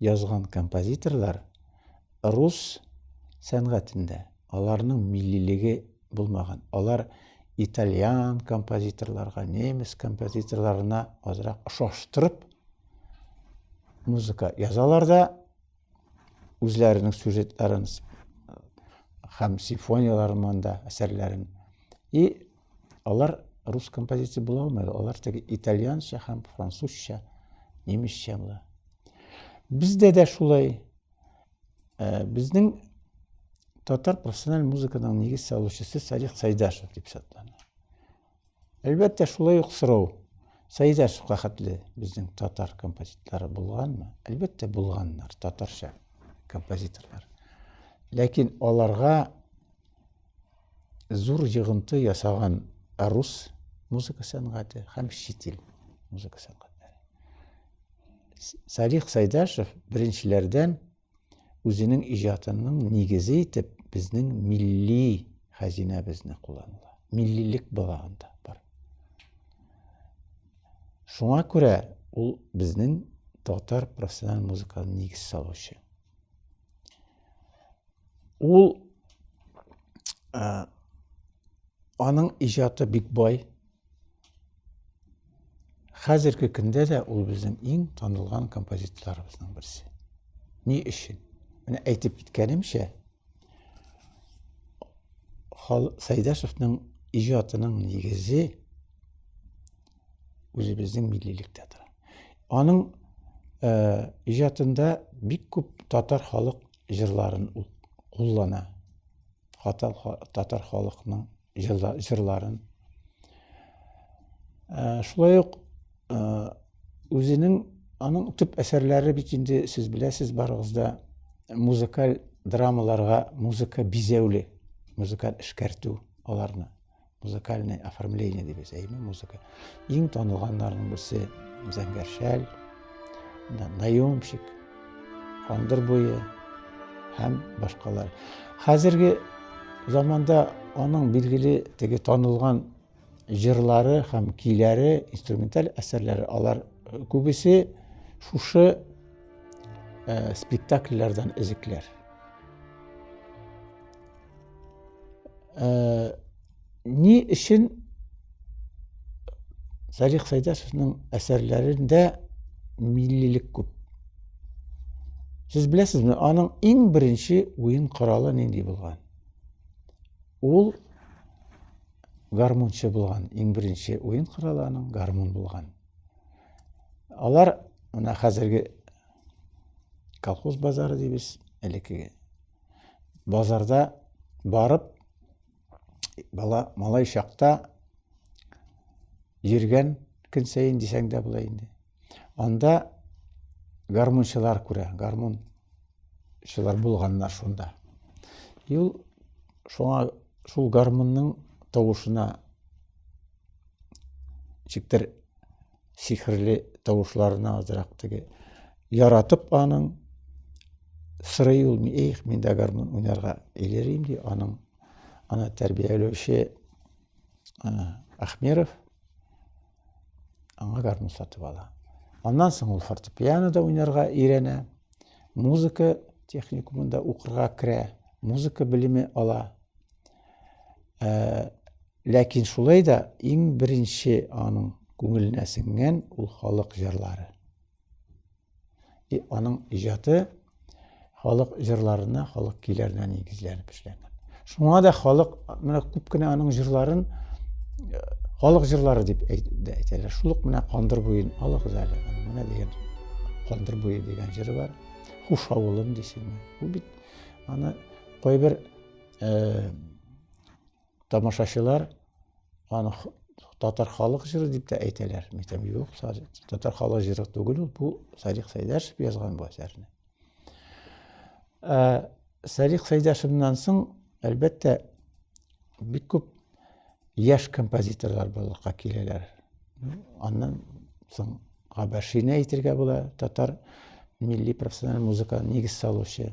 язган композиторлар рус сәнгатендә аларның миллилеге булмаган. Алар итальян композиторларга, немец композиторларына азрак ошаштырып музыка язалар да үзләренең сюжетларын һәм симфонияләрен монда әсәрләрен и Алар рус композиция була алмайды. Алар теге итальянча һәм французча, немецчә була. Бездә дә шулай. Э, безнең татар профессиональ музыканың нигез салучысы Салих Сайдашев дип сатлана. Әлбәттә, шулай ук сорау. Сайдашевка хәтле безнең татар композиторлары булганмы? Әлбәттә, булганнар, татарча композиторлар. Ләкин аларга зур йогынты ясаган рус музыка сәнгате һәм чит ил музыка сәнгатьләре. Салих Сайдашев беренчеләрдән үзенең иҗатының нигезе итеп безнең милли хәзинәбезне кулланыла. Миллилек була анда бар. Шуңа күрә ул безнең татар профессиональ музыканың нигез салучы. Ул ә, аның иҗаты бик бай. Хәзерге көндә дә ул безнең иң танылган композиторларыбызның берсе. Ни өчен? Менә әйтеп киткәнемчә, Сәйдәшевның иҗатының нигезе үзебезнең миллилектә тора. Аның э, иҗатында бик күп татар халык җырларын ул куллана. Хатал татар халыкның җырларын. Э, шулай ук э, үзенең аның төп әсәрләре бит инде сез беләсез барыгыз да музыкаль драмаларга музыка бизәүле, музыкаль эшкәртү аларны. музыкальный оформление деп әйтәме музыка иң танылганнарның берсе зәңгәр шәл наемщик кандыр буе һәм башкалар хәзерге заманда аның билгеле теге танылган җырлары һәм көйләре инструменталь әсәрләре алар э, күбесе шушы ә, э, спектакльләрдән өзекләр Ә, ни өчен Зарих Сайдасовның әсәрләрендә миллилек күп. Сез беләсезме, аның иң беренче уен коралы нинди булган? Ул гармунчы булган. Иң беренче уен коралы аның гармун булган. Алар менә хәзерге колхоз базары дибез, элеккеге базарда барып, бала, малай чакта йөргән көн сәен дисәң дә була инде. Анда гармунчылар күрә, гармунчылар булганнар шунда. Юл шуңа шул гармунның тавышына чиктер сихерле тавышларына азрак теге яратып аның сырый ул их мин дә гармун уйнарга илерим ди аның аны тәрбияләүче Ахмеров аңа гармун сатып ала аннан соң ул фортепианода уйнарга өйрәнә музыка техникумында укырга керә музыка белеме ала Ә, ләкин шулай да иң беренче аның күңеленә сеңгән ул халык җырлары. И аның иҗаты халык җырларына, халык көйләренә нигезләнеп эшләнгән. Шуңа да халык менә күп кенә аның җырларын э, халык җырлары дип әйтәләр. Шул ук менә Кандыр буен алыгыз әле. Менә дигән Кандыр буе дигән җыры бар. Хуш авылым дисеңме? Бу бит аны кайбер Э, тамашачылар аны татар халык җыры дип тә әйтәләр. Мәйтәм юк, татар халык җыры түгел ул, бу Садик Сәйдәшев язган бу әсәрне. Э, Садик Сәйдәшевнан соң, әлбәттә, бик күп яшь композиторлар булырга киләләр. Аннан соң Габашине әйтергә була, татар милли профессиональ музыка нигез салучы.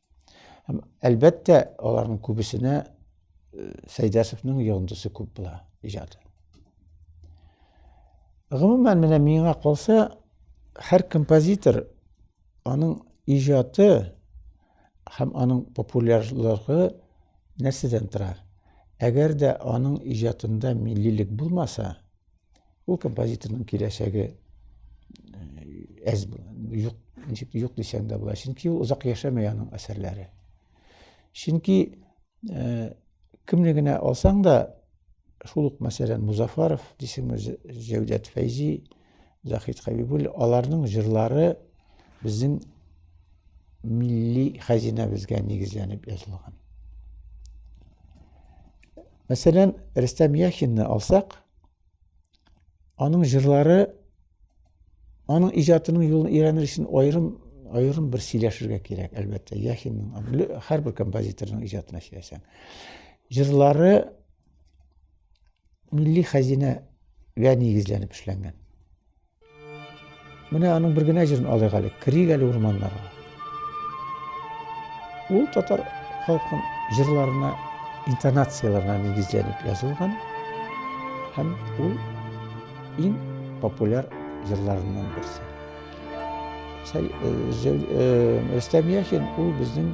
Һәм әлбәттә, аларның күбесенә э, Сәйдәсовның йогындысы күп була иҗаты. Гомумән, менә миңа калса, һәр композитор аның иҗаты һәм аның популярлыгы нәрсәдән тора? Әгәр дә аның иҗатында миллилек булмаса, Ул композиторның киләчәге әз юк, ничек юк дисәң дә була. Чөнки ул озак яшәмәй аның әсәрләре. Чөнки э, кемне генә алсаң да, шул ук мәсәлән Музафаров, дисеңме, Җәүдәт Фәйзи, Захид Хәбибуллин, аларның җырлары безнең милли хәзинәбезгә нигезләнеп язылган. Мәсәлән, Рөстәм Яхинны алсак, Аның җырлары аның иҗатының юлын өйрәнер өчен аерым аерым бер сөйләшергә кирәк, әлбәттә, Яхинның һәрбер композиторның иҗатына сөйләсәң. Җырлары милли хәзинәгә нигезләнеп эшләнгән. Менә аның бер генә җырын алыйк әле. Керик әле урманнарга. Ул татар халкының җырларына, интонацияләренә нигезләнеп язылган һәм ул иң популяр җырларыннан берсе. Рөстәм Яхин ул безнең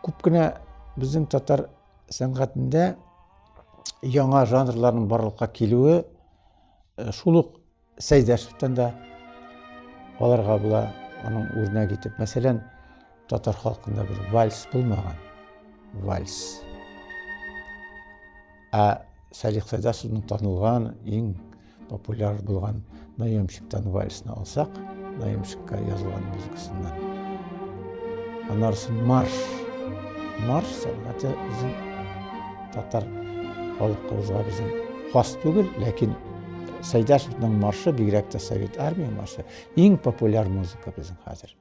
Күп кенә безнең татар сәнгатендә яңа жанрларның барлыкка килүе э, шул ук Сәйдәшевтән дә аларга була аның үрнәк итеп. Мәсәлән, татар халкында бер вальс булмаган. Вальс. Ә Салих Сәйдәсовның танылган, иң популяр булган Наемщиктан вальсны алсак, Наемщикка язылган музыкасыннан. Анарсын марш. Марш сәнгате үзен татар халкыбызга безнең хас түгел, ләкин Сәйдәшевның маршы, бигрәк тә Совет армия маршы, иң популяр музыка безнең хәзер.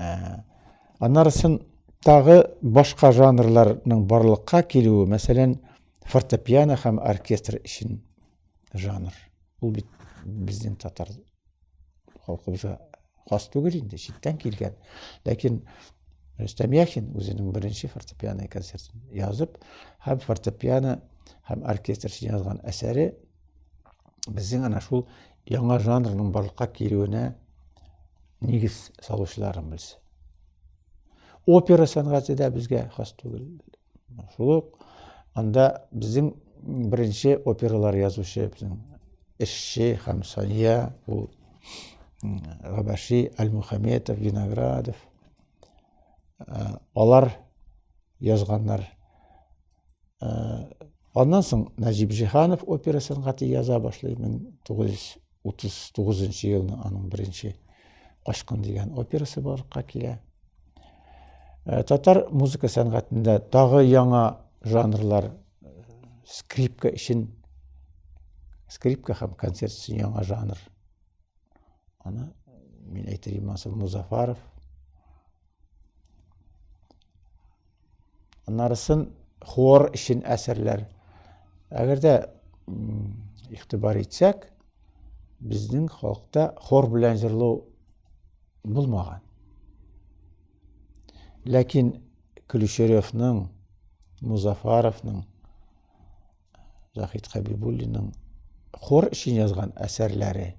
Ә, аннары сон тагы башка жанрларның барлыкка килүе, мәсәлән, фортепиано һәм оркестр өчен жанр. Ул бит безнең татар халкыбызга хас түгел инде, читтән килгән. Ләкин Рөстәм Яхин үзенең беренче фортепиано концертын язып, һәм фортепиано һәм оркестр өчен язган әсәре Безнең ана шул яңа жанрның барлыкка килүенә нигез салучыларыбыз. Опера сәнгате дә безгә хас түгел. Шул ук анда безнең беренче опералар язучы безнең эшче һәм Сания ул Габаши, Аль-Мухаметов, Виноградов. Алар язганнар Аннан соң Нәҗип Җиһанов опера сәнгате яза башлый. 1939 елны аның беренче Качкын дигән операсы барлыкка килә. Э, татар музыка сәнгатендә тагы яңа жанрлар э, скрипка өчен скрипка һәм концерт өчен яңа жанр. Аны мин әйтер Имансов Музафаров. Аннарысын хор өчен әсәрләр. Әгәр дә игътибар итсәк, безнең халыкта хор белән җырлау булмаган. Ләкин Көлешеревның, Музафаровның Заһид Хәбибуллинның хор өчен язган әсәрләре.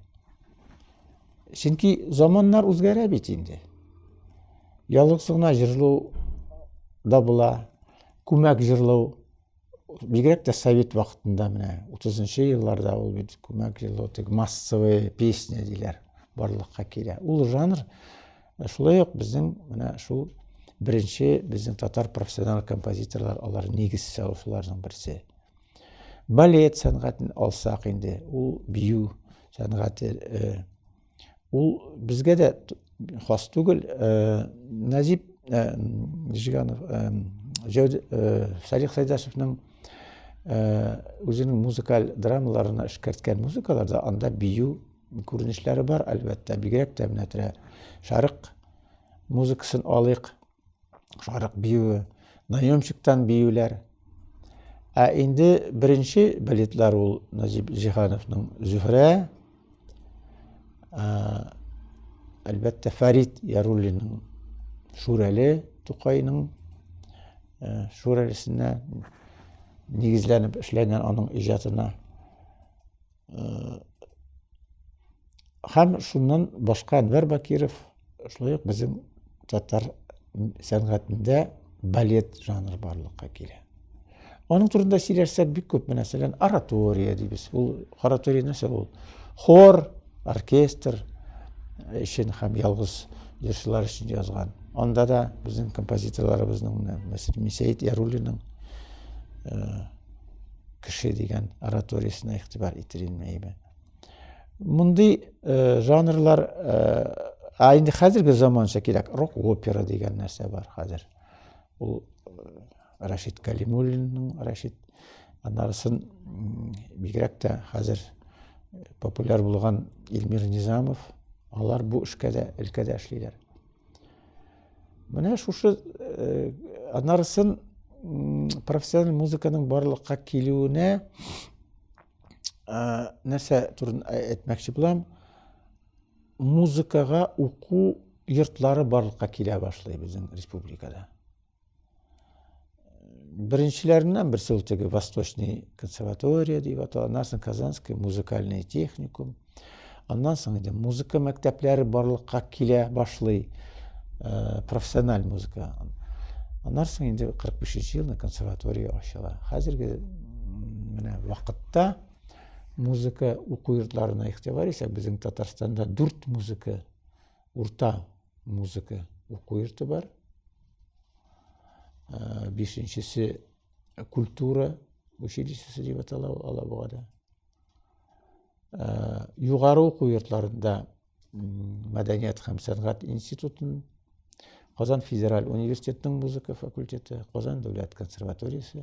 Чөнки заманнар үзгәрә бит инде. Ялгыз гына җырлау да була, күмәк җырлау бигрәк тә совет вакытында менә 30 елларда ул бит күмәк җырлау тек массовая песня диләр барлыкка килә. Ул жанр Шулай ук безнең менә шул беренче безнең татар профессиональ композиторлар алар нигез салучыларның берсе. Балет сәнгатен алсак инде, ул бию сәнгате э, ул безгә дә хас түгел. Э, Назип э, Жиганов, Салих Сайдашевның үзенең музыкаль драмаларына эшкәрткән музыкаларда анда бию күренешләре бар, әлбәттә, бигрәк тә менә тирә шарык музыкасын алыйк, шарык биюе, наемщиктан биюләр. Ә инде беренче балетлар ул Назип Җиһановның Зөһрә, әлбәттә, Фәрит Яруллинның Шүрәле Тукайның Шүрәлесенә нигезләнеп эшләнгән аның иҗатына. Һәм шуннан башка Әнвәр Бакиров шулай ук безнең татар сәнгатендә балет жанры барлыкка килә. Аның турында сөйләшсәк бик күп, мәсәлән, оратория дибез. Ул оратория нәрсә ул? Хор, оркестр өчен һәм ялгыз җырчылар өчен язган. Анда да безнең композиторларыбызның, мәсәлән, Мисәет Яруллинның кеше дигән ораториясенә игътибар итер идем әйбәт мондый э, жанрлар э, а инде хәзерге заманча кирәк рок опера дигән нәрсә бар хәзер ул э, рәшит кәлимуллинның рәшит анарысын бигрәк тә хәзер популяр булган илмир низамов алар бу эшкә дә өлкәдә эшлиләр Менә шушы э, анарысын профессиональ музыканың барлыкка килүенә э, нәрсә турын әйтмәкче булам. Музыкага уку йортлары барлыкка килә башлый безнең республикада. Беренчеләреннән берсе ул теге Восточный консерватория дип атала, аннан соң Казанский музыкальный техникум. Аннан соң инде музыка мәктәпләре барлыкка килә башлый, э, профессиональ музыка. Аннан соң инде 45 елны консерватория ачыла. Хәзерге менә вакытта музыка уку йортларына игътибар исәк, безнең Татарстанда 4 музыка урта музыка уку йорты бар. Э, бишенчесе культура училищесы дип атала Алабугада. Э, югары уку йортларында мәдәният һәм сәнгать институтын, Казан федераль университетының музыка факультеты, Казан дәүләт консерваториясе,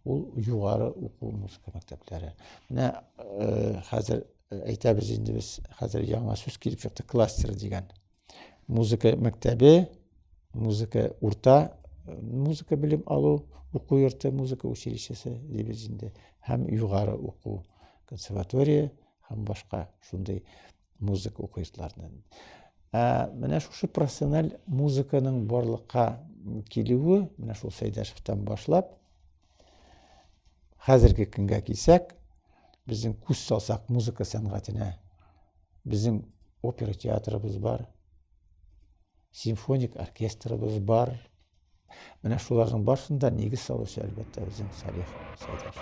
ул югары уку музыка мәктәпләре. Менә э, хәзер әйтәбез инде без хәзер яңа сүз килеп чыкты кластер дигән музыка мәктәбе музыка урта музыка белем алу уку йорты музыка училищесы дибез инде һәм югары уку консерватория һәм башка шундый музыка уку йортларыннан ә менә шушы профессиональ музыканың барлыкка килүе менә шул сәйдәшевтан башлап Хәзерге көнгә килсәк, безнең күз салсак музыка сәнгатенә, безнең опера театрыбыз бар, симфоник оркестрыбыз бар. Менә шуларның барсында нигез салучы әлбәттә безнең Салих Сәйдәш.